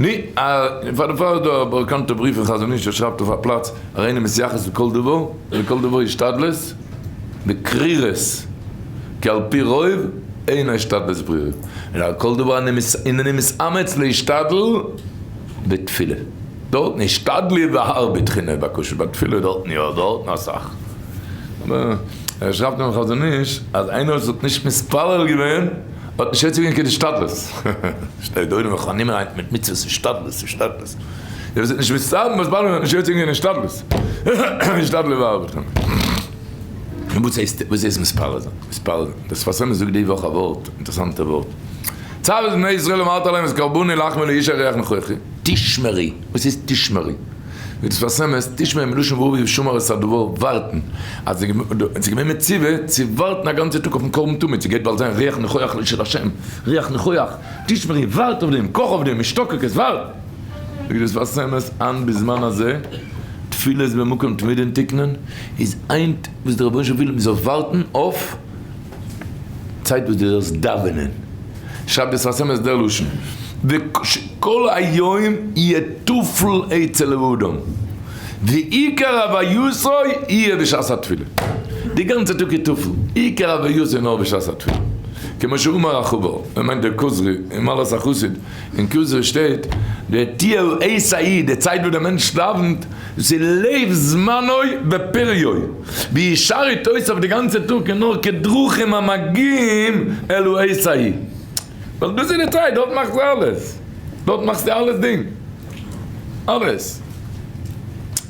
ני א, פאר די פאר איז דא א באקאנטע בריוו פון חזון איש ער שרייבט אויף א פלאץ הרי אני מתייחס לכל דבר ולכל דבר השתדלות בקרירות כי על פי רוב אין ההשתדלות ברירות אלא על כל דבר הנני מתאמץ להשתדל בתפילה דארטן השתדלי והרבי תחינה בקושי בתפילה דארטן יא דארטן אסאך אבער ער שרייבט און חזון איש אז איינער וואס האט נישט מתפלל געווען האט נישט אויסצוגעבן קיין השתדלות. שטייט דא אינעם חנומה היינט מיט מצוות השתדלות, השתדלות. דער וואס האט נישט מסתמא אז באלעמען האט נישט אויסצוגעבן קיין השתדלות. השתדלו ואהבו לכם. און וואס הייסט וואס הייסט מספר זיין? מספר זיין. דער שפת אמת זאגט די וואך א ווארט, אינטערעסאנטע ווארט. צוות בני ישראל אמרת להם את קרבני לחמי לאיש הריח נכוחי. תשמרי, וואס הייסט תשמרי? ווי דאס פארסעמעסט תשמעי מלשון ורבי ושמר את הדבר ווארטן אז עס איז געווען מציבה צו ווארטן א גאנצע טאג אויפן קרבן תמיד ס'גייט באלד זיין ריח ניחוח לשל השם ריח ניחוח תשמרי ווארט אויף דעם קאך אויף דעם משתוקק עס ווארט ווי דאס פארסעמעסט היינט בזמן הזה תפילות במקום תמידין תקנון איז היינט וואס דער רבונו של עולם וויל מ'זאל ווארטן אויף צייט וואס דו זאלסט דאווענען, שרייב דאס אויס אמת דער לשון, וכל היום יהיה תפל אצל האדם, ועיקר עביותו יהיה בשעת התפילה, די גאנצע טאג איז תפל, עיקר עביותו איז נאר בשעת התפילה, כמו שאמר החבר, ער מיינט דער כוזרי, אין מעלות החסיד. אין כוזרי שטייט, די תיל ע ס ה י, די צייט וואס דער מענטש דאווענט, דאס איז לב זמנו ופריו, ווי עס שארט אויס אויף די גאנצע טאג איז נאר כדרכים המגיעים אלו ע ס ה י, ווייל דאס איז די צייט, דארט מאכסטו אלעס, דארט מאכסטו אלעס דינג, אלעס.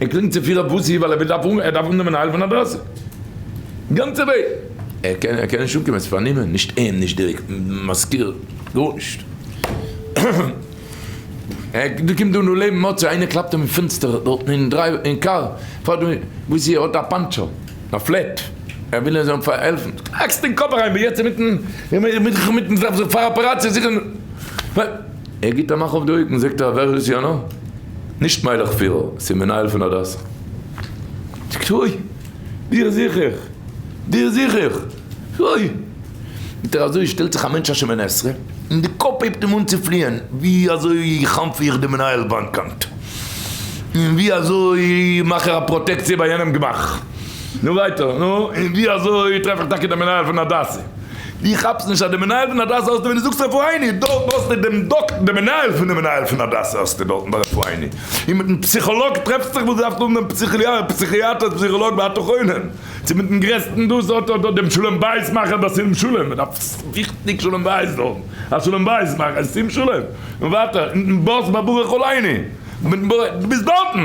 ער קלינגט צו פֿיר אויף וואָס איר ווילט, ער דאַרף אָנ, ער דאַרף אָננעמען אַ הילף פֿון אַ דרייסע גאַנצע וועג. ער קען, ער קען נישט אָנקומען, ס'איז פֿאַר נימען, נישט אים, נישט די מזכּיר, גאָרנישט. ער קומט, קומט דאָ נאָר לעבן מוצאי, איינער קלאַפּט אים אין פֿענצטער דאָרטן אין דרייוו, אין קאַר, פֿאַר דעם וואָס איר האָט אַ פּאַנטשער, אַ פֿלעט, ער וויל איר זאָלן פֿאַר העלפֿן. האַקסט אין קאָפּ אַריין, ב יעצט אינמיטן, מיטן, מיטן זיך פֿאַר אַפּעראַציע זיכען, ווען. ער גיט א מאך אויף די אויגן זאגט ער ווער איז יונה? נישט מיילעך פירער, ס'איז מנהל פון הדסה. זאגט אוי! דיר זיך איך! דיר זיך איך! אוי! זאגט ער אזוי שטעלט זיך א מענטש א שמונה עשרה און די קאפ הייבט אים אן צו פליען ווי אזוי חנ'פע איך די מנהל באנקאנט און ווי אזוי מאך איך א פראטעקציע ביי יענעם גמח נו ווייטער נו און ווי אזוי טרעף איך טאקע די מנהל פון הדסה דו כאפסט נישט אז די מנהל פון הדסה האסטו ווי דו זאגסט רפאיני, דארט האסטו דעם דאקטער דעם מנהל פון די מנהל פון הדסה האסטו דארטן ביי רפאיני, און מיטן פסיכאלאג טרעפסט זיך וואס דארפסט האבן דעם פסיכיאטער פסיכאלאג ואתה חונן, צו מיטן גרעסטן דאס האט דארט דעם שלום בית מאכער דער שים שלום, מען דארף וויכטיג שלום בית דארט, א שלום בית מאכער א שים שלום, און ווייטער מיטן באס ביי ברוך אלייני, דו ביסט דארטן.